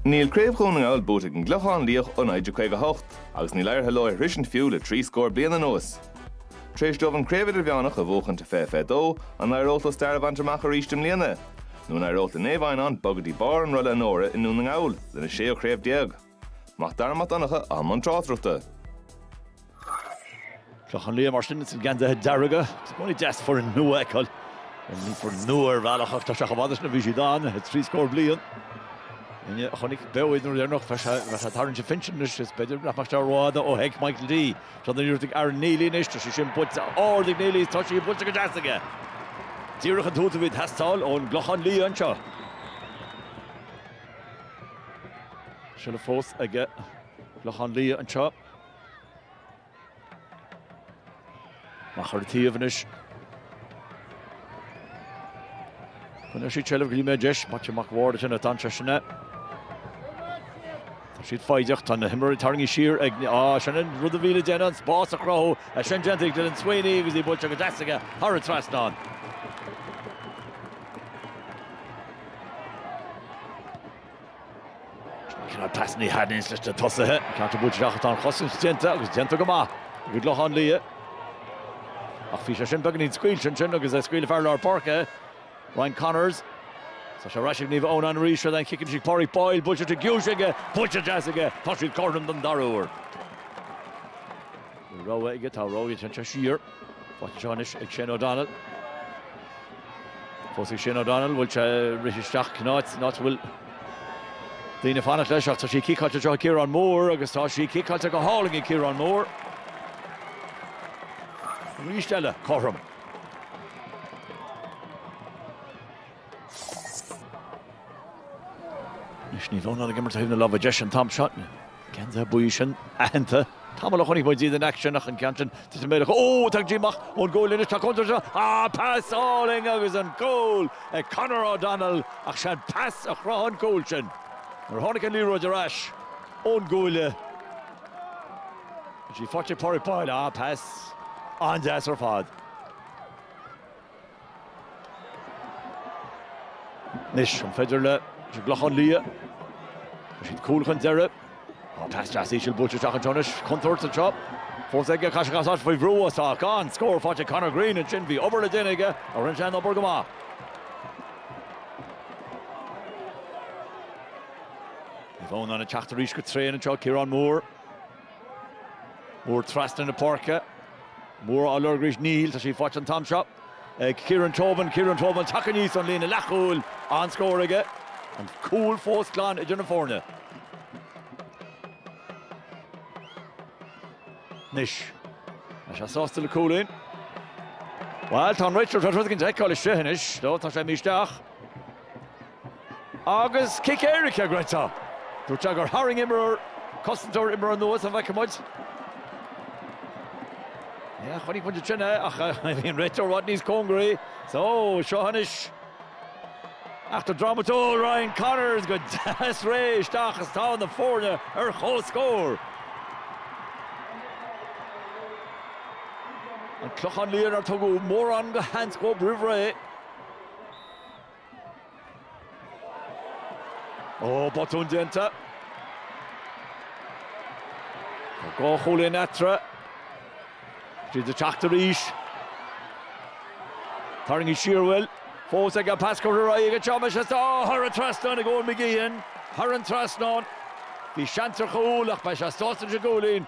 Níl craobh Dhún na nGall buaite ag an gClochán Liath ó 1958 agus níl éirithe leo é shroisint fiú le trí scór bliain anuas. Tar éis dóibh an Craobh Idirmheánach a bhuachaint i fiche fiche dó, an éireodh leo stair a bhaint amach arís i mbliana? Nó an éireodh le Naomh Adhamhnáin bogadh go dtí barr an rolla onóra i nDún na nGall, lena séú chraobh déag? Mac Dara Mac Donncha i mbun tráchtaireachta. An Clochán Liath, mar sin, sna geansaithe dearga. Is bíonn sé deas foireann nua a fheiceáil. Bhí foireann nua ar bhealach ach tá sé chomh fada sin ó bhí siad ann trí scór bliain. Duine a chonaic beo iad an uair dheireanach bheadh sé bheadh sé ag tarraingt an phinsin anois. Is b'fhéidir nach mbeadh sé rófhada ó sheic Michael D. Seo nuair a dhiúltaigh Aaron Neilly anois. Tá sé sin buailte ard ag Neilly is tá sí buailte go deas aige. Díreach an tús a bhí ag teastáil ón gClochán Liath anseo. Seilbh fós ag an gClochán Liath anseo. Mark Curran taobh anois. Coinneoidh siad seilbh go dtí go mbeidh deis. Maitiú Mac an Bhaird ag teacht anseo sin é. Tá siad foighdeach, tá na himreoirí tarraingthe siar acu, á, sin an rud a bhí le déanamh, an spás a chruthú, é sin déanta ag Dylan Sweeney agus í buailte go deas aige thar an trasnán. Cineál pasanna a thaitníos leis na tosaithe. Ceann ard buailte ach tá an chosaint déanta agus déanta go maith ag an gClochán Liath. Ach bhí sé sin beagainín scaoilte ansin agus é scaoilte ag fear lár páirce, Ryan Connors. Tá sé ar ais ag Naomh Adhamhnáin arís, seo í an chic isí Pádraig Boyle, buailtear te giúis aige, buailte go deas aige, tá siad cothrom don dara uair. Rogha aige, tá rogha aige, téann sé siar. Faighte anseo anois ag Shane O'Donnell. Fós ag Shane O'Donnell, bhfuil sé ag rith isteach san áit, an áit a bhfuil daoine ag fanacht leis ach tá sí ciceáilte anseo ag Ciarán Moore agus tá sí ciceáilte go hálainn ag Ciarán Moore. Arís eile cothrom. Anois Naomh Adhamhnáin ag imirt ó thaobh na láimhe deise an t-am seo. Geansaithe buí sin aitheanta. Tamall ó chonaic muid iad in aicsean ach an ceann sin tite méirleach. Ó! Tagann sí amach ón gcuaille anois. Tá contúirt anseo. Á! Pas álainn agus an cúl ag Conor O'Donnell ach 'sé an pas a chruthaigh an cúl sin. Nuair a tháinig an liathróid ar ais ón gcuaille bhí sí faighte ag Pádraic Boyle. Á! Pas an-deas ar fad. Anois an féidir le an gClochán Liath, tá siad cúl chun deiridh, tá pas deas íseal buailte isteach anseo anois, contúirt anseo, fós aige, caithfidh sé casadh as faoi bhrú, tá an scór faighte ag Conor Greene ansin, bhí obair le déanamh aige ach rinne sé an obair go maith. Naomh Adhamhnáin ag teacht arís go tréan anseo, Ciarán Moore. Moore trasna na páirce. Moore á lorg arís, níl. Tá sí faighte an t-am seo ag Ciarán Tobin. Ciarán Tobin ag teacht aníos ón líne leathchúil. An-scór aige. An cúl fós glan idir na foirne. Anois, tá sé sásta le cúilín. Bhuel, tá an réiteoir tá rud an fheiceáil isteach anois, tá sé imithe isteach. Agus cic éirice ag an réiteoir. Dúirt sé gur tharraing imreoir cosantóir imreoir anuas, an bhfeicfidh muid. Yeah, chonaic muid ansin é ach bhí an réiteoir rud níos cóngaraí. So, seo anois. Eachtra drámatúil Ryan Connors go deas réidh isteach agus tá na foirne ar comhscór. An Clochán Liath nár tugadh mórán de sheans dóibh roimh ré. Ó, botún déanta. Tá dhá chúilín eatarthu. Siad ag teacht arís. Tarraingíonn siar bhfuil. Fós ag an pas curtha ar aghaidh ag an Seamais is tá thar an trasnán ag Eoin McGeehin. Thar an trasnán. Bhí seans ar chúl ach beidh sé sásta leis an gcúilín.